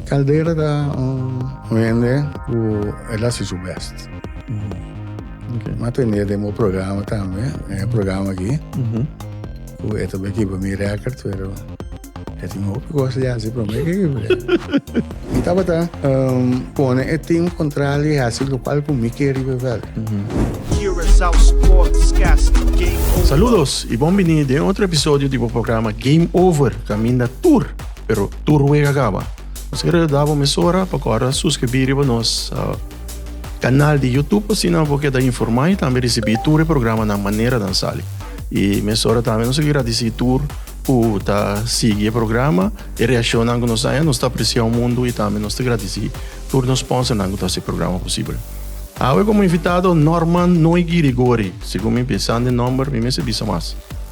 Caldera ta un hende cu el hasi su best. Mi a tende den bo programa tambe, den e programa aki, cu e ta beki pa mi record, pero e tin hopi cos di hasi prome ke ki bek. Mi tabata pone e team contral di hasi lo cual cu mi ke riba e veld. Saludos y bon bini den otro episodio di bo programa Game Over, caminda tur, pero. Tur wega kaba. Nos kere da bo mesora pa kora suskribí riba nos kanal di Youtube asina bo keda informá i tambe risibí tur e programanan manera nan sali. I mesora tambe nos ta gradisí tur ku ta sigui e programa, e reakshonnan ku nos haña. Nos ta apresia un mundu i tambe nos ta gradisí tur nos spònsernan ku ta hasi e programa posibel. Awe komo invitado Norman Noigi Rigori. Segun mi pensando e nòmber mi mester bisa mas.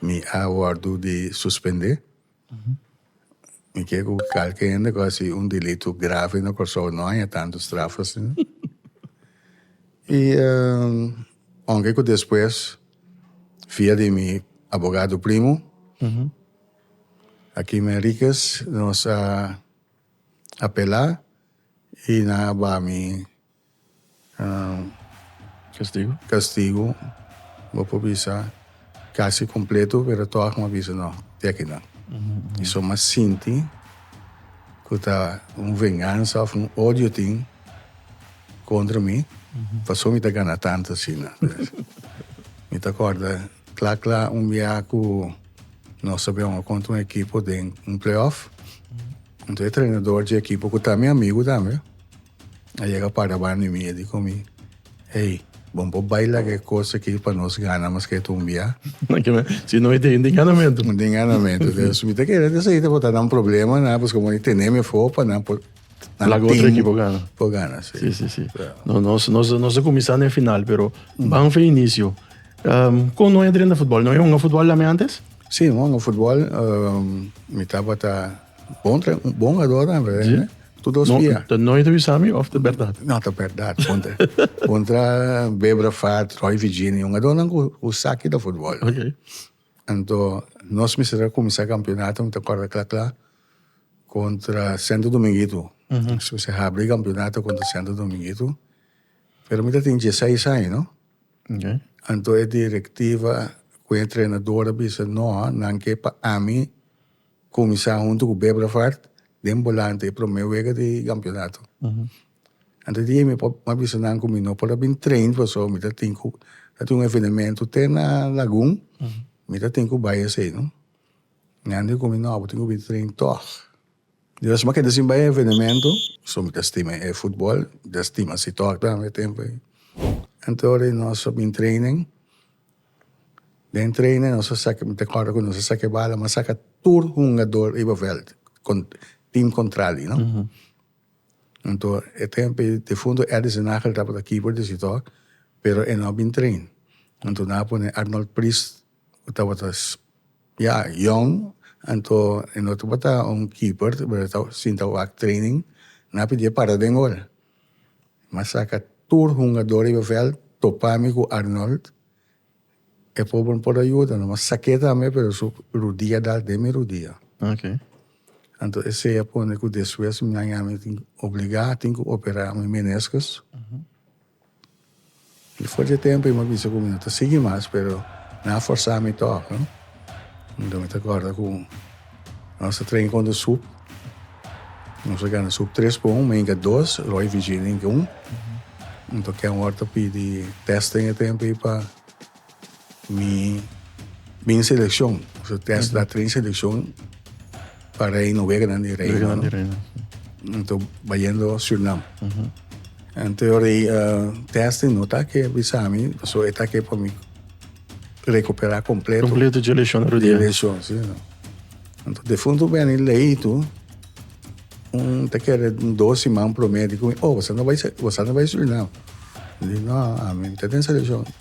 Mi a wordo di suspende. Mi kier cu calke hende cu haci un delito grave na Corsou no haya tanto straf asina. y aunke cu despues via di mi abogado primo Akim Henriquez nos a apela y nan a bami Castigo. Castigo bo por bisa casi completo pero toch bo bisa no de aki nan y so mas sinti cu ta un venganza of un odio tin contra mi pasobra mi ta gana tanto asina pues mi ta corda cla cla un biaha cu nos ta biongo contra un ekipo den un play off entonces e trainador dje ekipo cu ta mi amigo tambe. a yega para banda mi, e di ku mi, Hey, bo por bai laga e kos aki pa nos gana mas ke tu un bia? Si no, mi tin di nganamentu. Mi tin nganamentu. Dus mi ta kere esei ta por ta nan problema na, paske bo a tene mi afó pa nan por Laga otro ekipo gana. Por gana, si. Si, si, si. No, nos, nos, nos a kuminsá den final, pero banfe inisio. Kon no e drenta futbòl? No e hunga futbòl tambe antes? Si, mi a hunga futbòl. Mi tabata. Bon tra bon ador dan we. Sí. Tu dos via. Ta nooit avisa mi of ta berdad? No, ta berdad. Bon tra, bon tra Bebra Fat, Roy Virginia, un ador nan ku ku saki da futbol. Okay. Anto nos mester a kuminsá kampionato, mi ta kòrda kla kla, kontra Sento Dominguito. Nos mester a habri kampionato kontra Sento Dominguito. Pero mi ta tin diesseis aña, no? Okay. Anto e direktiva ku e entrenador a bisa, no, nan ke pa ami Kuminsá huntu ku Bebravaart den Bolante e promé wega di kampionato. Antes di e mi por a bisa nan ku mi no por a bin train pasobra mi ta tin ku ta tin un evenementu te na Lagun mi ta tin ku bai esei no. Mi a bin di ku mi no abo tin ku bin train tòg. Dios mi a keda sin bai e evenementu pasobra mi ta stima e futbòl mi ta stima si tòg tambe e tempu ei. Anto ora nos a bin trainen Den training nos a saka mi ta acorda cu nos a saka e bala mi a saka tur hungador riba veld con team contrari no anto e tempo e difunto Eddie Zenagel tabata keeper di Sitor pero e no a bin train anto nan a pone Arnold Pris cu tabata ya yong anto e no tabata un keeper sinta wak training nan a pidia e para den gol M'a saka tur hungador riba vèlt, topa mi ku Arnold. E pober no por a yuda no, m'a sak'é tambe pero su rudia a dal den mi rudia. Anto esei a pone ku despues mi nan yami tin, obligá tin ku operá mi meniskus. Difort di e tempu i mi a bisa ku mi no ta sigui mas, pero nan a forsá mi tòg. Anto mi ta kòrda ku nos a train konta sup. Nos a gana sup tres pa un, mi a yinka dos, Roy i Virginia a yinka un. Anto Ken Ward a pidi tèst den e tempu ei pa. Mi bin seleccion, so test da train seleccion pa rey no weganan di rey. Weganan di rey. Ento bayendo Surinam. Ento yo rey uh, test no ta ke bisami, so eta ke pa mi recupera completo. Completo je lesión ro dia. Lesión, sí. Ento defunto beni lei tu un te kere dos siman promé di kumi, oh, wasa no bai, wasa no bai Surinam. Di no, ami te den seleccion.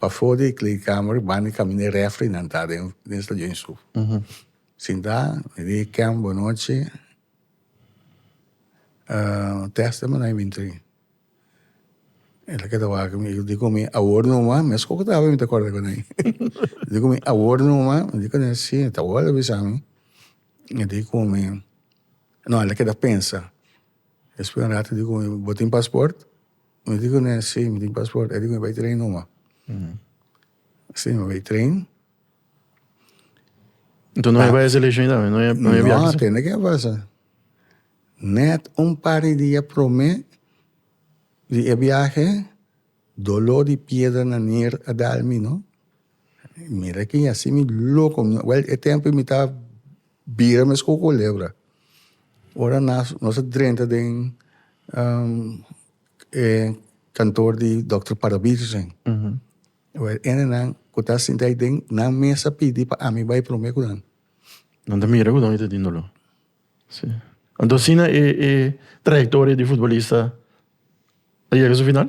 Pafó di kleedkamer bani kaminda e refrinan ta den den stadion i su sintá i di Ken bonochi tèste mi na e mintri el a keda wak mi i di ku mi awor numa mes ku tabata mi ta kòrda ku nai i di ku mi awor numa mi di ku nai si ta awor a bisa mi i di ku mi no el a keda pensa despues di un ratu i di ku mi bo tin pasport Mi di kuné, sí, mi tin pasport. E di kuné, bai tren numa. Sí, mi bai tren. Nto no e bai e selekshon tambe? No e biaha? No, tende ke a pasa. Nèt un par di dia promé di e biahe, doló di piedra na nier a dal mi, no. Mira ki así mi loko. Wèl, e tempu mi ta Bira mes ku kulebra. Ora nas nos a drenta den e kantoor di Dòkter Parabietersen e ene nan ku ta sinti ai den nan mes a pidi pa ami bai promé ku nan. Nan ta mira ku don e ta tin doló. Si. Anto asina e trayektoria di futbolista a yega su final?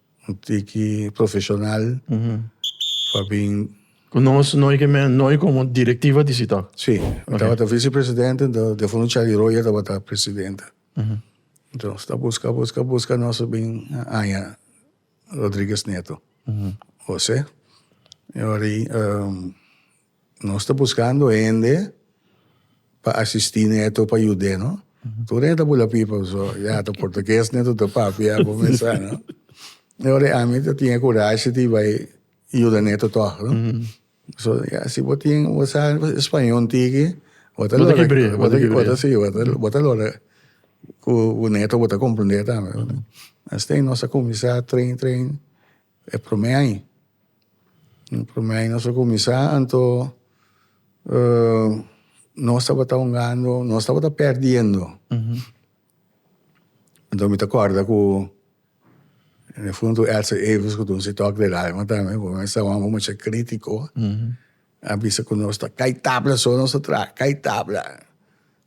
Un tiki profesional pa bin. Cu nos no y me no y como directiva di Citoc. Si, mi tabata vicepresidente, ento de for un Charlie Royer tabata presidente. Ento nos ta busca, busca, busca nos a bin haya Rodriguez Neto, Jose, y ora y Nos ta buskando hende pa asistí neto pa yud'é, no? Tur hende ta bula pipa so, ya ta portugues neto ta papia bo me sa, no? I ora ami ta tin e kurashi di bai yuda neto tòg, no? So ya si bo tin bo sa spañó un tiki bo ta lora bo ta si bo ta lora ku neto bo ta komprendé tambe, no? Esei nos a kuminsá train train. E prome aña e prome aña nos a cuminsa anto nos tabata hungando nos tabata perdiendo anto mi ta corda cu en e fundo Elsa Averns cu dunsi tok de radio matabe bo me staba un mucha critico A bisa cu nos ta cay tabla so nos ta traha cay tabla.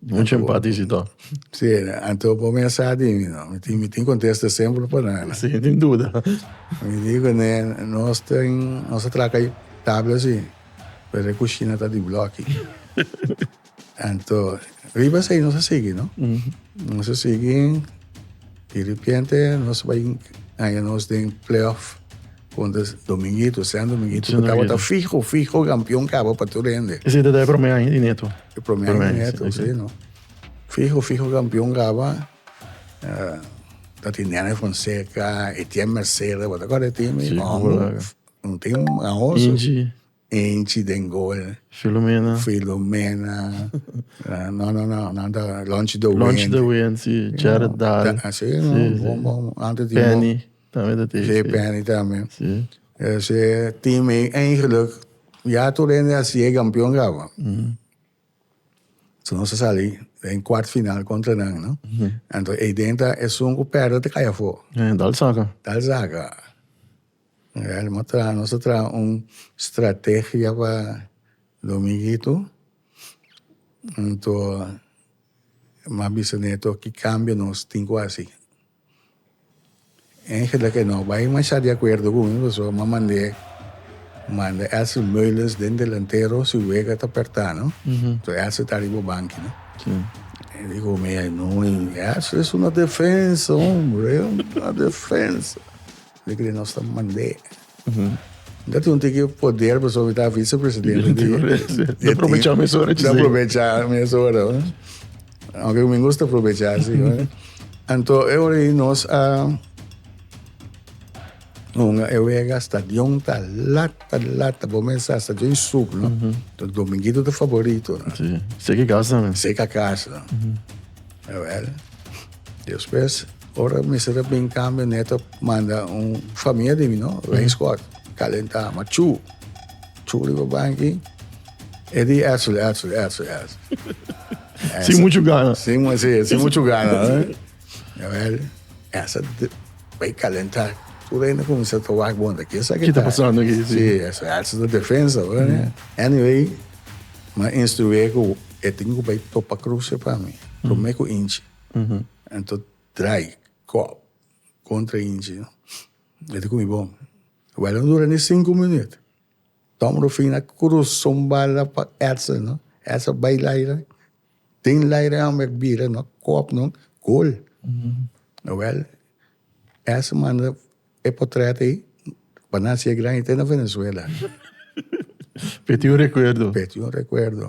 Mucha empatía si to. Si anto bo me a sa di mi no. Mi tin mi tin contesta esemplo pa nan. Si sin duda. Mi di cu ne nos tin nos ta traha cay tabla si pero e cushina ta di bloki. Anto, riba esei nos a sigui, no? Nos a sigui, di ripiente nos bai haña nos den playoff contra Dominguito, San Dominguito, San cu tabata Dominguito. fijo, fijo campeón cabo pa tur hende. Ese ta de primer año di Neto. El primer Primer, año neto, sí, sí, sí. no. Fijo, fijo campeón caba. eh, ta tin Nene Fonseca, Etienne Mercedes, tabata corre team. Sí, No, hola. no tin ahoso. Inchi. Enchi den gol. Filomena. Filomena. no, no, no. Nan ta Lonchi de Ween. Lonchi de Ween, si. Jared Dahl. Si, no. Bon, bon. Antes di. Penny. Tambe ta tei. Si, Penny tambe. Si. Esei e team ei eigenlijk ya tur hende a siye kampion kaba. So nos a sali den kwart final kontra nan, no. Anto eiden ta esun ku pèrdè ta kai afó. Dal saka. Dal saka. Real nos a traha nos a traha un strategia pa dominguito anto mi a bisa neto ki cambio nos tin cu hasi angel a kendo a bai masha di acuerdo cu mi pasobra mi a mande manda elsie meulens den delantero si wega ta aperta no so elsie ta ariba banki no e di cu mi elsie es una defensa hombre es una defensa. Di kile nos ta mand'é. Nta tin un tiki poder pasobra mi ta vicepresidente di... Di aprovecha mes ora. Di aprovecha mes ora. Aunque mi gusta aprovecha si. Anto e ora i nos a un e wega stadion ta lata lata bo mesa stadion sub no. To dominguito ta favorito. Si. Seki casa. Seki casa. Jawel. Despues Ora mester ta bin cambio neto manda un famia di mi no rain squad calenta ma chu chu riba banki Eddie Etzel Etzel Etzel Etzel sin mucho gana sin sí, sin mucho gana ya wel esa bay calenta tu reina comienza ta wak bonda que sa que ta pasando aquí sí esa Etzel ta defensa anyway ma instruye cu e tin cu bay topa cruce pa mi prome cu inchi Anto draai kòp kontra Inchi no e ta ku mi bon e bala no dura ni sinku minüt Tom Rufin a krusa un bala pa Edson no Edson a bai laira tin laira e hòmber a bira no kòp no gol ewel Edson manda e potrèt ei pa nan hasi e gran hit ei na Venezuela. P'e tin un rekuerdo. P'e tin un rekuerdo.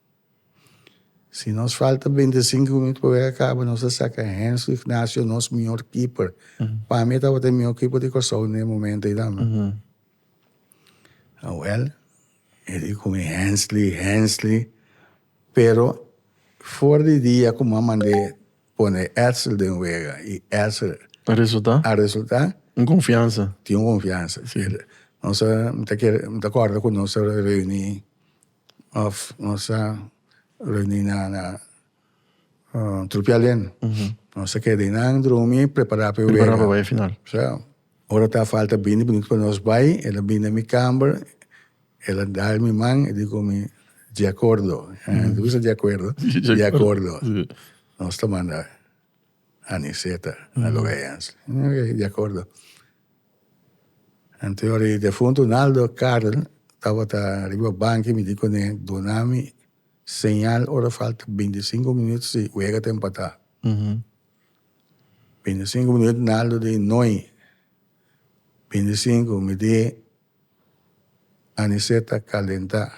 Si nos falta beinti sinku minut pa wega kaba nos ta saka Hensley Ignacio nos mihor keeper pa mi e tabata e mihor keeper di Kòrsou na e momento ei tambe awel e di komi Hensley Hensley pero for di dia komo a mande pone Etzer den wega i Etzer a resulta a resulta un konfiansa tin un konfiansa nos ta mi ta kere mi ta kòrda ku nos ta reuni. Of nos ta reuni na trupial den. Nos ta keda einan drumi y prepara pa e wega. Prepara pa bai e final. Ora ta falta bini bonito pa nos bai, el a bini na mi kamber, el a dal mi man, el a di cu mi, Di acuerdo. Lo bisa di acuerdo? Di acuerdo. Nos ta manda Aniceta na Loeans. Di acuerdo. Anto e defuntu Naldo Karl tabata riba banki mi di kuné, Dunami señal ora falta binti i sinku minut si wega ta empatá. Binti i sinku minut Naldo di noi. Binti i sinku mi di Anicet ta kalentá.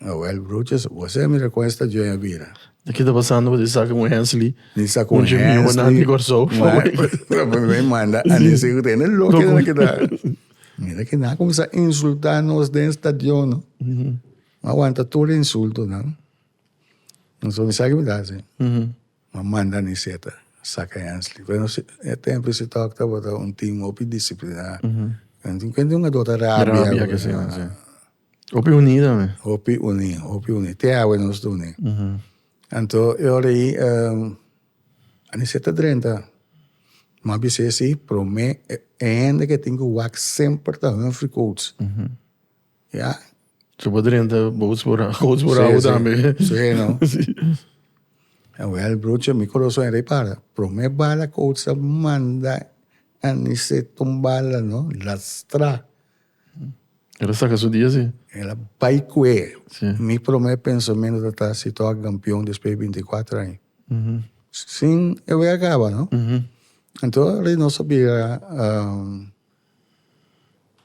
Awel Brutus, bo se mira kon e sta djoi a bira. Na ki ta pasando wata Isaac con Hensley. Na Isaac con Hensley. Con Jimmy Honan di Corsou. May manda Anesi cu tene loco den na kita. Mira que na cuminsa insulta nos den stadionan. Ma aguanta tur insultonan. Nos so misa que mi ta haci. Ma manda Aniseta saca Hensley. Pero e tempo isi tok tabata un team hopi disciplina. Kende hungador ta rabia. Rabia que si. Hopi uní tambe. Hopi uní, hopi uní. Te awe nos ta uní. Anto e ora ei anisé ta drenta. M'a bis'é si promé e hende ku e tin ku wak semper ta Humphrey Coats. Ya. Su por drenta boats por awa, coats por awa tambe. Sí, no. Awèl, brucho, mi koroson a rei para. Promé bala Coats a manda anisé tumbala, no, lastrá. El a saka su dia si. El a bai ku e. Si. Mi promé pensamentu tabata si tabata kampion despues di binti kuater aña. Mhm. Sin e wea kaba, no? Mhm. Anto Reynoso a bira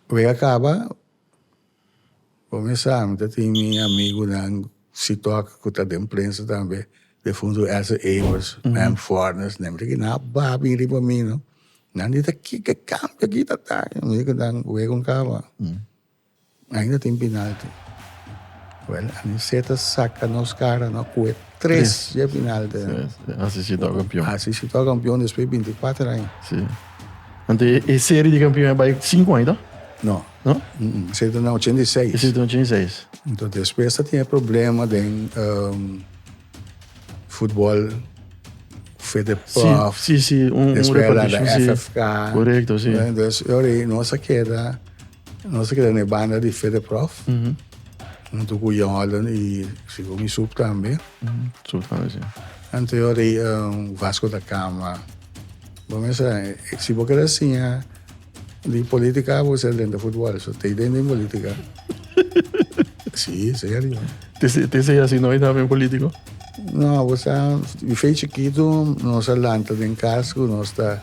wea kaba, promé sa mi ta tin mi amigunan. Sitok ku ta den prensa tambe de fundu Elsa Evers, Mem Fornes, nan di nan a baha bin riba mi no. Nan di ta kiko kambio aki ta ta. Mi di ku nan wega un kaba. Ainda tin penalti. Wel, Anicet a saka nos kara no kue tres ya penalti. Hasi Sitok kampion. Hasi Sitok kampion despues binti kuater aña. Si. Ante e seri di kampion a bai sinku aña ta? No. No? Esei ta na ochenta i seis. Esei ta na ochenta i seis. Enton despues ta tin e problema den um, futbol Fedepaf. Si, si, si, un, un repartishon, si. FFK. Korekto, si. Entonces, e ora ei nos a keda, nos a keda na e banda di Fedeprof, huntu ku Jordan i sigur mi Sup tambe. Sup tambe, si. Enton, e ora ei, um, Vasco da Cama. Bo mester, si bo keda siña. Di politica abo ser den de futbol, so te den den politica. si, serio. Te, te sei así no está ben político? No, abo sa, mi fe chiquito, nos a lanta den cas cu nos ta,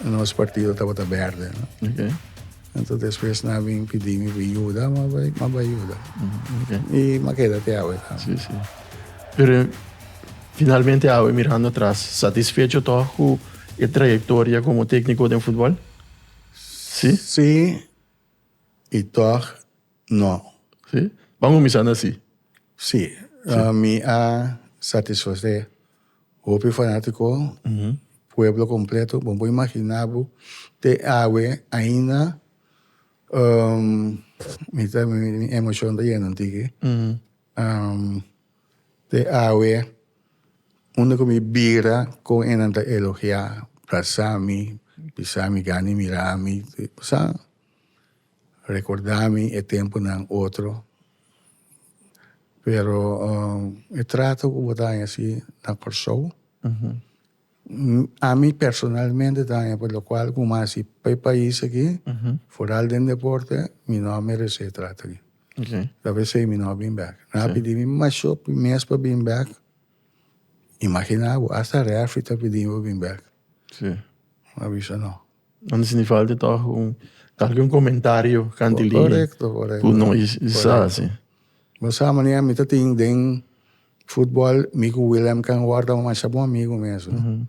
nos partido tabata berde. No? Okay. Entonces después na bin pidi mi bin yuda, ma bai, ma bai yuda. Okay. Y ma queda te awe. Sí, sí. Pero finalmente awe mirando atrás, satisfecho toch cu E trayectoria como tecnico den futbol? Si. Si y tog no. Si? Ban cuminsa na si? Si. Mi a satisface hopi fanatico, pueblo completo. Bo por imagina bo te awe ainda mi ta mi emocion ta yena un tiki. Am te awe unda ku mi bira kon e nan ta elogiá, brasá mi, bisa mi gani mirá mi, sa rekordá mi e tempunan otro. Pero e trato ku bo ta haña si na Kòrsou. Ami personalmente ta haña pa locual cu mas y pa e pais aki, foral den deporte, mi no a merece trato aki. Ta p'esey mi no a bin bek. Nan a pidi mi masho mes pa bin bek. Imagina bo, hasta referee ta pidi mi pa bin bek. Mi a bisa no. Anto si ni falta toch un, tal vez un comentario cant'e ley cu no y sa si. Bo sa mane mi ta tin den Futbol, mi ku Willem kan worda masha bon amigu mesun. Mm -hmm.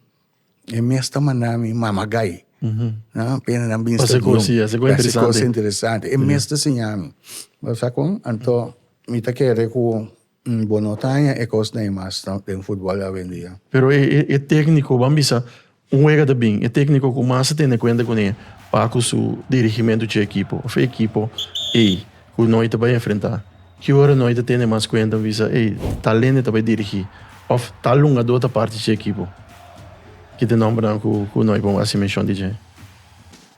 E mes ta manda mi mamagai. Mm -hmm. Na pena nan bin Pase stadium. Kosi, ase ko interesante. Pase interesante. E mes ta siña mi. Pero sa kon, anto, mm -hmm. mi ta kere ku un bonotaña e kos na e mas den futbol awendia. Pero e, e, e técnico, ban bisa, Un wega ta bin, e tékniko ku mas ta tene kuenta kuné pa ku su dirigimentu dje ekipo, òf e ekipo ei ku noi ta bai enfrentá. Ki ora noi ta tene mas kuenta un bisa, ei, tal hende ta bai dirigí, òf tal lungadó ta parti dje ekipo. Kit e nòmbernan ku noi por hasi menshon di dje.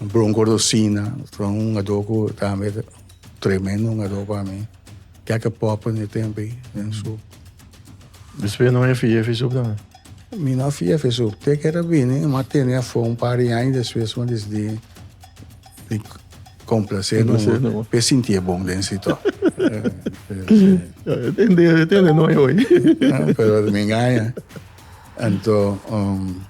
Bronco Rosina ta un hungadó ku tambe ta tremendo hungadó pa mi. Kèkè pòpè den e tempu ei den su. Mi spera no e fia e fisup tambe. Mi no a fia e fisup. Te ke ta bini e m'a tene afó un par di aña despues m'a disidi di komplase nungu p'e sintié bon den si tò. Tende no e oi. Pero mi ngaña. Anto.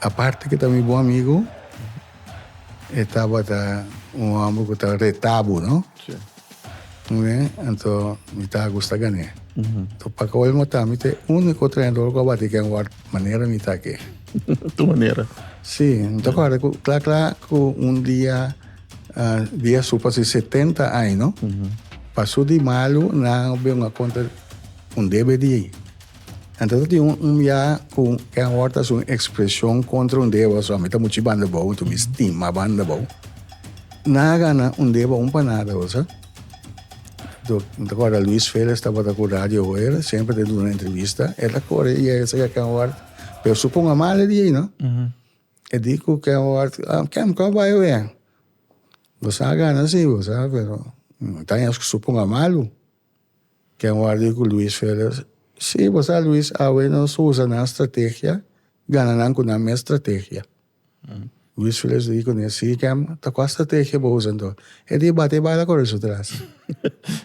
Aparte cu e ta mi bon amigo, e tabata un homber cu ta reta bo, no? Si. Oye, anto mi ta gusta gan'e. Anto pa cabo el mata, mi ta e unico trenador cu a bati ken ward manera mi ta aki. Tu manera. Si, mi ta corda cu cla cla cu un dia, ah, dia su pa su setenta aña, no? Pa su di malo, nan a beng'e a conta un debe di. Anto ta tin un un ya ku e awor ta hasi un ekspresion kontra un deba, so mi ta muchi banda bou, anto mi stima banda bou. Nan a gana un deba un pa nada bosa. Anto mi ta kòrda Luis Felix tabata ku Radio Hoyer, semper ta duna entrevista, e ta kore i e bisa ku Ken Ward, pero su ponga mal e di ei no. E di ku Ken Ward, Ken kòp bai awea? Boso a gana si, boso a, pero mi ta haña su ponga malu. Ken warda i ku Luis Felez? Sí, bo sa Luis, awe nos usa nan strategia, gana nan ku nan mes strategia. Luis Felez di ku ne, sí Ken, ta kua strategia bo usa anto? E di, bati e bala kore su tras.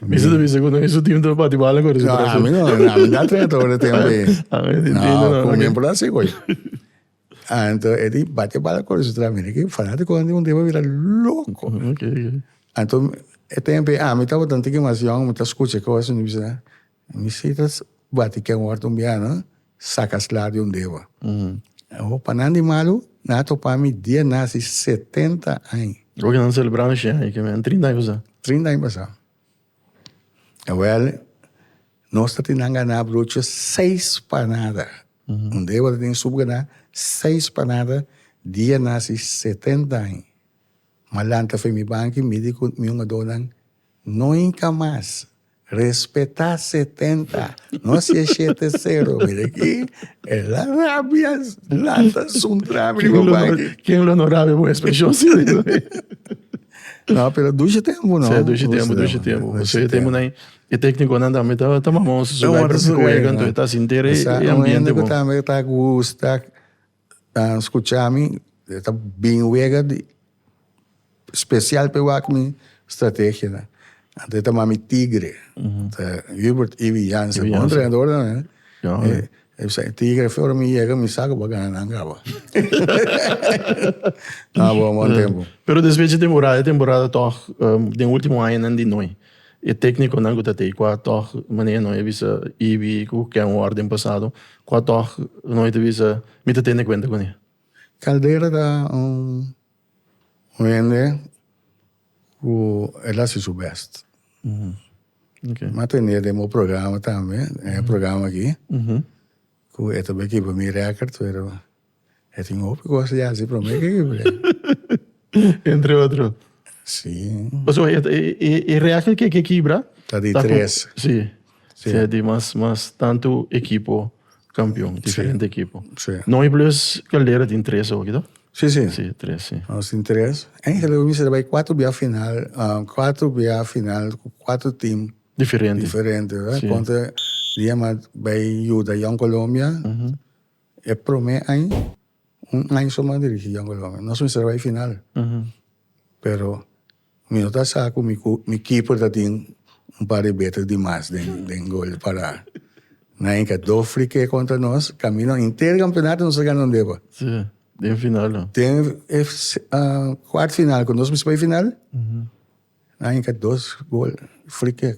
Mi sa ta bisa ku no e su tim ta bati bala kore su tras. No, ami no, ami no a trena ta ora tempu ei. Ami no, ku mi por a hasi koe. Anto e tin bate bala cu Lorenzo traha mina aki. Fanaticonan di Mundial a bira loco. Anto e tempo ami tabata tin animacion, mi ta scucha cos, mi bisa, mi si ta bati ken wor ta un biaha, saca sla di un deba. Awo pa nan di malo, nan a topa mi dia naci setenta aña. Oca nan celebra mi shi aña, ke mi a trinta aña pasa. Trinta aña pasa. Awel nos ta tin gana brucha seis panada un deo ta tin sup gana seis panada dia nasi setenta aña ma lanta fe mi banki midi ku mi un adonan nunka mas respeta setenta no si e shete sero mira aki ela rabia lanta suntra kin lo no rabia bo espresion. No, pero dushi tempu, no? Sí, dushi tempu, dushi tempu. Dushi tempu. Nan, e téknikonan tambe ta, ta mamó su sugai pa su kuei kantu e ta sinti re e ambiente bon. tambe ta gusta skucha mi, e ta bin wega di spesial pe wak mi strategianan. Anto e ta mami Tigre, ta Hubert Ivi Jansen, bon trenadornan, he. E bisa, e tigre fi ora mi yega mi sa ku bo a gana nan kaba. Nan a bon bon tempu. Pero despues dje temporada, e temporada tòg den último añanan di noi, e téknikonan ku ta t'ei kua tòg manera noi a bisa Ibi ku ken wòrdu den pasado, kua tòg noi ta bisa mi ta tende kuenta kuné? Caldera ta un Un hende ku el hasi su bèst. Mi a tende den bo programa tambe, den e programa aki, ku e ta bakiba pa mi rèkòrd, pero e tin hopi kos di hasi promé ke kiba den. Entre otro. Sí. Pasobra e rèkòrd ke kibra. Ta di tres. Sí. Sí. Sea di mas, mas tantu ekipo kampion, diferente ekipo. Sí. Noi Blues Caldera tin tres oki, to? Sí, sí. Sí, tres, sí. Nos tin tres. Eigenlijk we mester bai kuater bia final, kuater bia final ku kuater tim. Diferente. Diferente, wèraat? Sí. Ponte Diema bai yuda Young Colombia e promé aña. Un aña so mi a dirigi Yongle Lome. Nos mester a bai final. Pero mi no ta sa ku mi keeper ta tin un par di beter di mas den gol di parada. Na hinca dos free kick contra nos, camino henter campeonato nos a gana un deba. Si, den final lo. Den e cuart final cu nos mester bai final, na hinca dos gol free kick.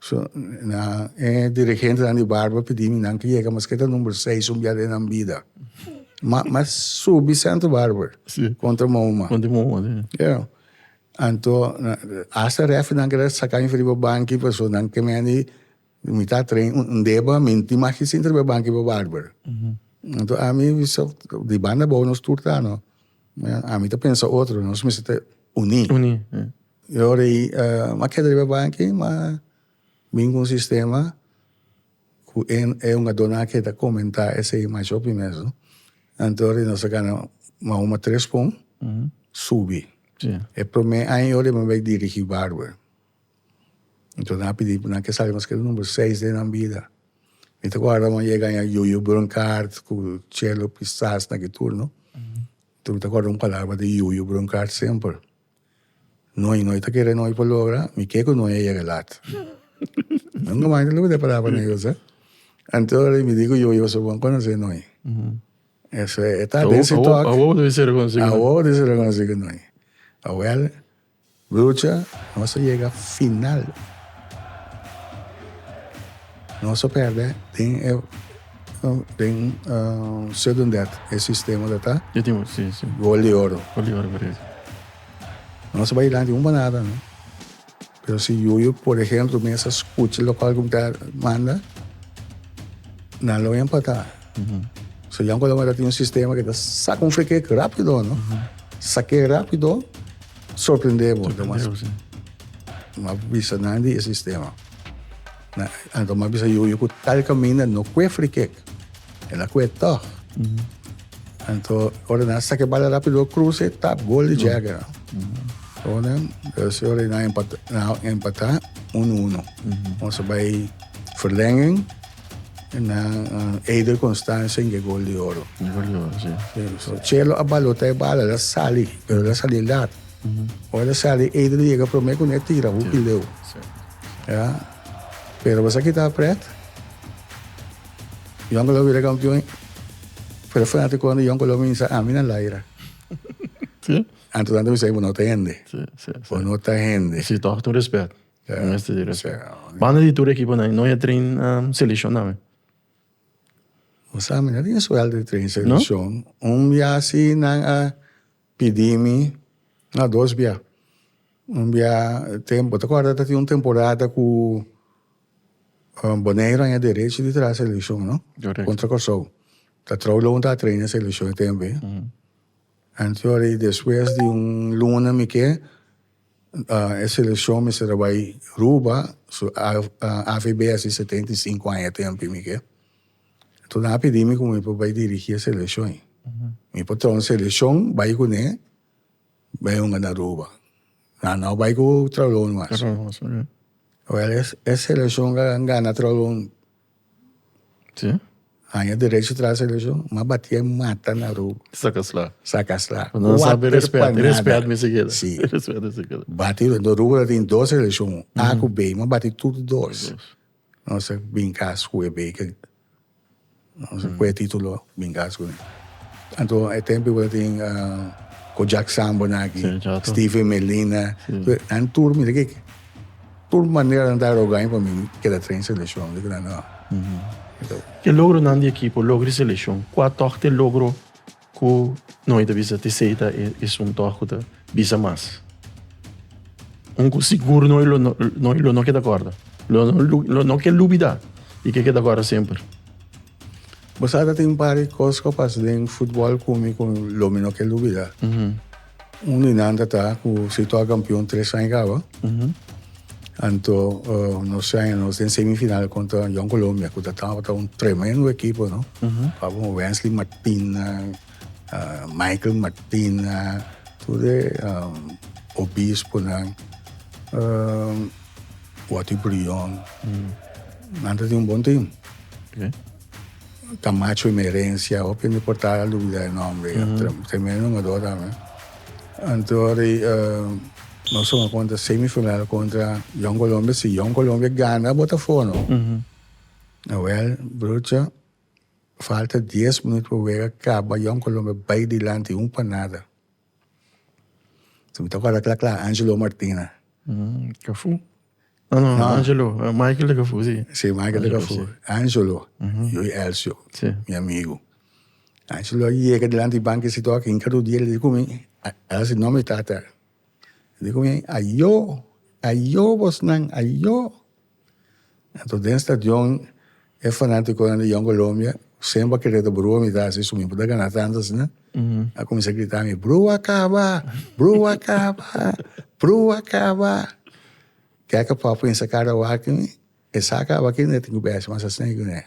So, nan, e dirigentenan di Barba pidi mi nan ku yega mas ke ta number seis un biaha den nan bida. Ma, ma subi Santa Barbara. Si. Kontra Mouma. Kontra Mouma, si. Ya. Anto, asta refrinan ke ta saka mi for riba banki pasobra nan ke mende mitá tren, un deba minti mas ki sinter riba e banki riba Barbara. Anto ami bisa di banda abou nos tur ta, no? Ami ta pensa otro, nos mester ta uní. Uní, e. E ora ei a keda riba banki ma bin ku un sistema ku e e hungadó nan a keda komentá esei masho pi mes no anto ora ei nos a gana mas huma tres pon subi e prome aña ora ei mi bai dirigi barber anto nan a pidi nan ke sali mas ke numero seis den nan bida mi ta guarda awan yega aña yoyo bronkaart ku chelo pistas na ke tur no anto mi ta guarda un palabra di yoyo bronkaart semper Noi, noi ta kere noi por logra, mi ke ku noi a yega lat. Nunka mas lo kede pará pa noi dos, eh. Anto ora mi di ku yo, yo so bon konosé noi. Eso e, e ta den si tòk. Awor bo ta bisa rekonosí ku noi. Awor bo ta bisa rekonosí ku noi. Awèl, brucha, nos a yega final. Nos a perde den e den sudden death e sistema dat a Yo tin si si. gol di oro. Gol di oro correcto. Nos a bai lanti un banada no. Pero si Yuyu por ejemplo mesa scucha local cu mi ta manda nan lo empata. So Jan Coloma ta tin un sistema cu ta saca un freekik rapido no. Sake rapido sorprende bo. Sorprende bo si. Bo a bisa nan di e sistema. Na a lo mas bisa yu ku tal kaminda no kue free kick. El a kue tog. Anto ora nan sake bala rapido kruse tap gol di Jagger. Ora dus ora nan empata nan empata uno uno. Ons a bai verlenging en nan uh, Eider Constantia inge gol di oro. Gol di oro, si. Chelo a balota e bala la sali pero la sali lat. Ora e sali Adrian a yega prome kuné a tira hoop di leu. Ya. Pero bo sa kita pret? Jon Colom a bira kampion i Fred Fanatico di Jon Colom a bisa ami na laira. Anto nan ta bisa ei bo no ta hende. Bo no ta hende. Si tòg tur respèt. Bo mester di respèt. Banda di tur ekiponan i no e traina selekshon tambe? Bo sa mi no tin suèlt di train selekshon. Un bia si nan a Pidi mi na dos bia. Un bia tem bo ta kòrda ta tin un temporada ku Boneiru haña derechi di traha selekshon no? Kontra Kòrsou. Ta trou lou mi tabata treina e selekshon e tempu ei. Antes ora i despues di un luna mi ke e selekshon mester a bai Ruba su avb a hasi setenta i sinku aña e tempu ei mi ke. Tu nan a pidi mi ku mi por bai dirigí e selekshon. Mi por traha un selekshon bai ku ne bai hunga na Aruba. Nan nau bai ku Traulon mas. Wèl, e selekshon a gana Traulon. Haña derecho traha selekshon. M'a batí e mata na Aruba. Saka sla. Saka sla. Kuater pa nada. Respèt mi si keda. Sí. Batí. Aruba ta tin dos selekshon, A ku B. M'a batí tur dos. Nos a bin kas ku e beke. Nos a kue titulo bin kas ku nan. Anto e tempo ku a tin Kojak Sambona aki, Steven Melina, nan tur mira ke tur manera nan ta roga pa mi keda tren seleshon. Di ku nan no. Ke logronan di ekipo, logo di seleshon, kua tòg ta e logro? Ku no hay ta bisa te sei ta esun antoh ku ta bisa mas. Un ku sigur no hay lo no hay lo no keda korda lo lo no ke lubida y ke keda korda semper. Bo sa ta tin un par di kos ku a pasa den futbol ku mi ku lo mi no ke lubida. Un di nan ta ta ku Citoa kampion tres aña kaba. Anto nos se aña nos den semifinal kontra Jong Colombia ku ta tabata un tremendo ekipo no. Tabata un Wensley Martina, ah, Michael Martina, tur e obisponan, Watty Brion. Nan ta tin un bon tim. Camacho y Merencia, hopi mi por tabla lubida e nomber ya. Tremendo hungador tambe. Antori nos tuma contra semifinal contra Young Colombia. Si Young Colombia gana Botafogo no. Nawel, broertje, falta dies minuut pa wega caba, Young Colombia bay dilanti un pa nada. Si mi ta guarda kla kla Angelo Martina. Mm, Cafu. No, no, No. Angelo. eh, Michael de Cafu, sí. Si, Michael de Cafu. Angelo, yo y Elcio, Sí. mi amigo. Angelo a yega delanti di banki si toki, inka rudia, li di ku mi, a a hasi nome tata. Li di ku mi, a yo, a yo bosnan, a yo. Anto den stadion e fanaticonan di Young Colombia semper a kere ta brua mitad así, su mismo ta gana tanto así na, a cuminsa a grita mi brua caba, brua caba, brua caba. Keke pap pensa cara wak mi, esa caba aki no e tin cu besi mas asina y cu ne.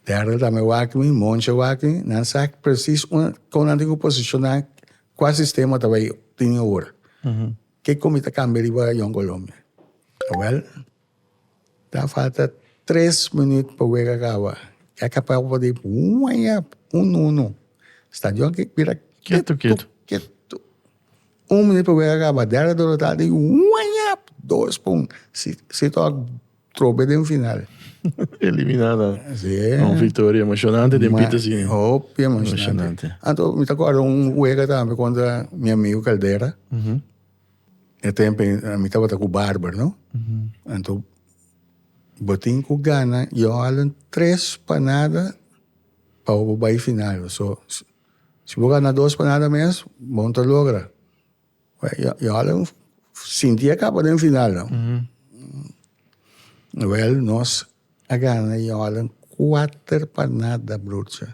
Derde tambe wak mi, Monche wak mi, nan sa precies unda, con nan tin cu posicionan, cua sistema ta bay tin ora. Kico mi ta cambia riba Jong Colombia? Awel ta falta tres minuut pa wega a caba ya caba a word waya uno uno stadion a bira ketu ketu ketu un minuut pa wega a caba derde derota wayap dos pa un si si trobe den final. Eliminá nan. Sí. Un victoria emocionante den Pieter Ma- Senior. Hopi emocionante. Emocionante. Anto, mi ta acuerdo un wega tambe contra mi amigo Caldera. Mhm. E tempo en- a mi tabata cu Barber, no? Anto, botin cu Ghana, yo halen tres pa nada pa bo bay final. So, si bo gana dos pa nada mes, bo no ta logra. Jordan sinti e kaba den final no wel nos a gana Jordan kuater pa nada broertje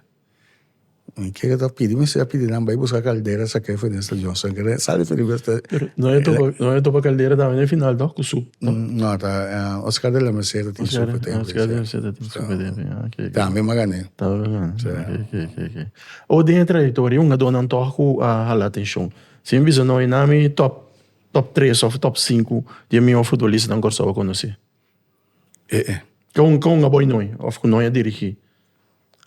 mi kere ta pidi mester a pidi nan bai buska caldera sa kere fo den sta Johnson kere sa diferi mester no e topa no e topa caldera tambe den final to ku sup to no ta Oscar de la Merced tin sup te Oscar de la Merced tin sup te tambe a oke oke tambe manga ne tambe manga ne oke oke oke oke o den e trayectoria un a dor nan tog ku a hala atencion Si mi bisa no, i na mi top top tres of top sinku di e mihó futbolistanan ku Kòrsou a konosí. E'e. Kon kon a boi noi of ku noi a dirigí?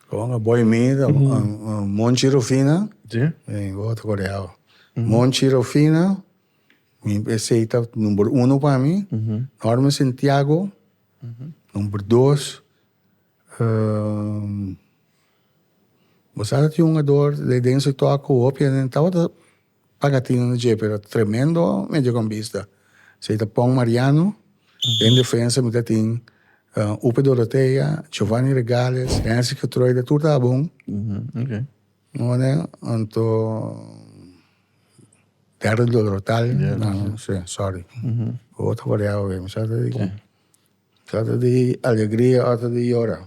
Kon a boi mi ta Monchi Rufina. Si. Mi bo ta koreado. Monchi Rufina, mi esei ta number uno pa mi. Norman Santiago, number dos. Bo sa ta tin un ador de den su tok ku hopi hende no tabata paga atende na dje pero tremendo mediocampista esei ta Pong Mariano den defensa mi ta tin Upe Dorotea Giovani Regales Henry Getruyder tur ta bon anto Derek Dorotal sorry otro variado mi sa ta di ki. Ota di alegria, ota di yora.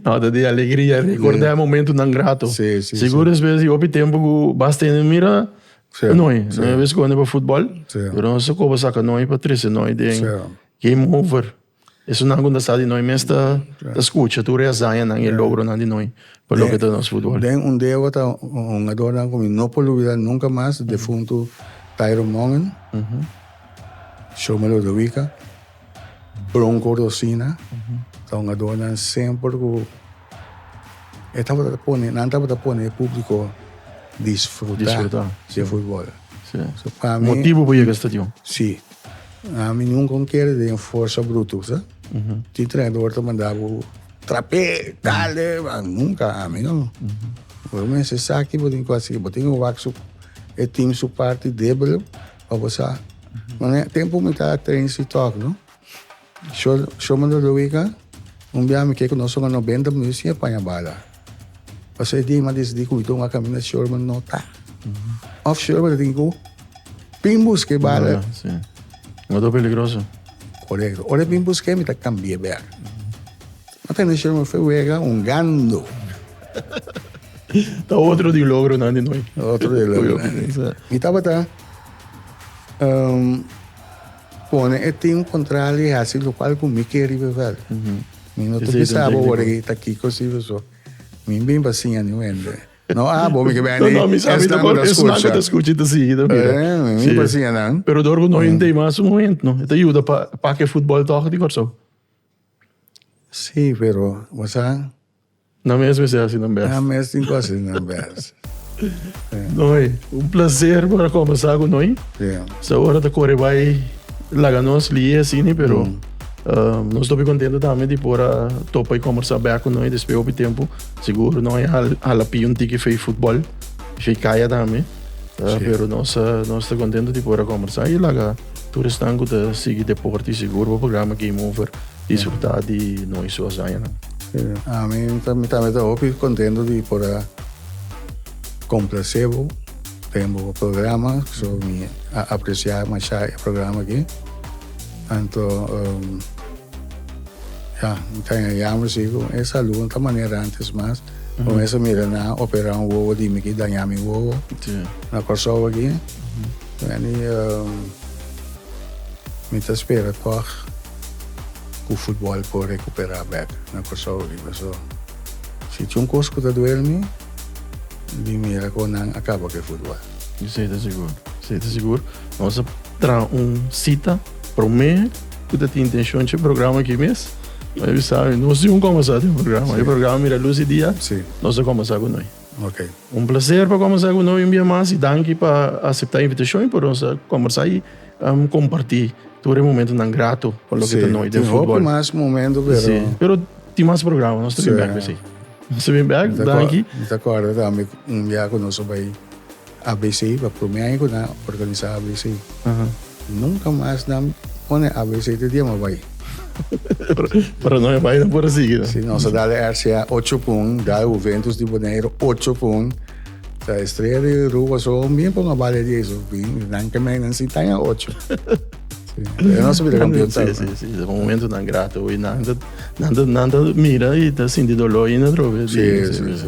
Ota di alegria, ricorda e momentonan grato. Sí, sí, Sigur sí. despues di hopi tempo cu bas tene mira Sí, noi. sí. Noi a ves conde pa futbol, Sí. pero nos a coba saca noi pa trece noi den Sí. game over. Esonan cu ta sa di noi mes ta, ta scucha tur e hazañanan y e logronan di noi pa loke ta nos futbol. Den un di e wata hungadornan cu mi no por lubida nunca mas, defuntu Tyrone Mongen. Show Melody Wika, Bronco Rosina, ta un adornan semper ku e tabata pone, nan tabata pone e públiko disfruta Disfruta. di futbol. Sí. So pa mi, Motibu pa yega stadion. si, a mi nunka un kere den forsa brutu, sa? Tin trenador ta manda bo trap'é, dale, a nunka, a mi no. Bo mester sa ki bo tin ku hasi, bo tin ku wak su e tim su parti debel, Pa bo sa. Mano e tempo mi ta train si talk, no? Sho, sho mando Luica, un bia mi keko nos songa 90 minutos sin paña bala. Pas e día ma decidí ku mi tonga kamina shor ma no ta. Of shor ma tin ku pin buske bala. Mando peligroso. Correcto. Ora pin buske mi ta kambié bek. No tende shel mos fe wega un gando. Ta otro di logronan di noi. Otro di logronan. Mi tabata um, pone e team contral y hasi lo cual con mi que ribe vel. Mm -hmm. Mi no te pensaba ahora que está aquí cosido so. Mi bien para sin ni wende. No abo mi que ben. No, no, mi sabe te por es na que te escuche te sigue te mira. Eh, mi para sin nan. Pero dorgo no ente más un momento, no. Te ayuda para pa que fútbol toch di corso. Si pero mozahan. Nan mes mester haci nan best. Nan mes tin cu haci nan best. Noi, un placer por a conversa cu noi. Sa ora ta core bay laga nos lie e asini pero nos ta hopi contento tambe di por a topa y conversa back cu noi despues hopi tempo. Seguro nos a hala pia un tiki fey footbal y fey kaya tambe pero nos ta contento di por a conversa y laga. Tur esnan ku ta sigui deporte sigur bo programa Game Over disfrutá di no i su hazañanan. Ami tambe ta hopi kontentu di por a komplase bo den bo programa, so mi a apresiá masha e programa aki. Anto ya mi ta haña yamber si ku e salu no ta manera antes mas. Bo mes a mira nan operá un wowo di mi ki dañá mi wowo na Kòrsou aki. Danny, Mi ta spera tòg ku futbòl por rekuperá bèk na Kòrsou riba. So, si tin un kos ku ta duel mi, di mira kon nan a kaba ku e futbòl. Di sei ta sigur? Sei ta sigur? Nos a traha un sita promé ku ta tin intenshon dje programa aki mes. Nos a bisa, nos tin ku kuminsá den programa. E programa mira lus e dia nos a kuminsá ku noi. Ok. Un placer pa combersa cu no un bia mas y danki pa acepta e invitacion y por nos a combersa y comparti tur e momentonan grato pa loke ta noi den football. Si, tin hopi mas momento pero. Si, pero tin mas programa, nos ta bin back pesey. Nos ta bin back, danki. Mi ta corda tambe un bia cu nos a bay ABC pa prome aña cu nan a organisa ABC. Nunca mas nan pone ABC te diema bay. Pero no e bay nan por a sigui no. Si nos a dal e RCA ocho pun, dal Juventus di Bonaire ocho pun, ta Estrella di Aruba so mien pon a bal e dies of bin nan ke men nan si taña ocho. Pero nos a bira campeon ta. Si, si, si, un momento nan grato y nan ta, nan ta, nan ta mira y ta sinti dolor ain atrobe. Si, si, si.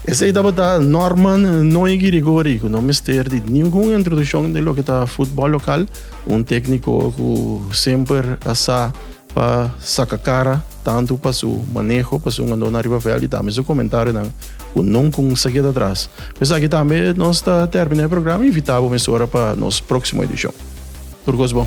Esei tabata Norman Noy Girigori, ku no mester di ningun introdushon den loke ta futbòl lokal, un tékniko ku semper a sa pa saka kara tantu pa su maneho, pa su ngandona ariba vèlt i tambe su komentarionan ku nunku sa keda atras. Ku esaki tambe nos ta tèrmina e programa i invitá bo mesora pa nos próksimo edishon. Tur kos bon!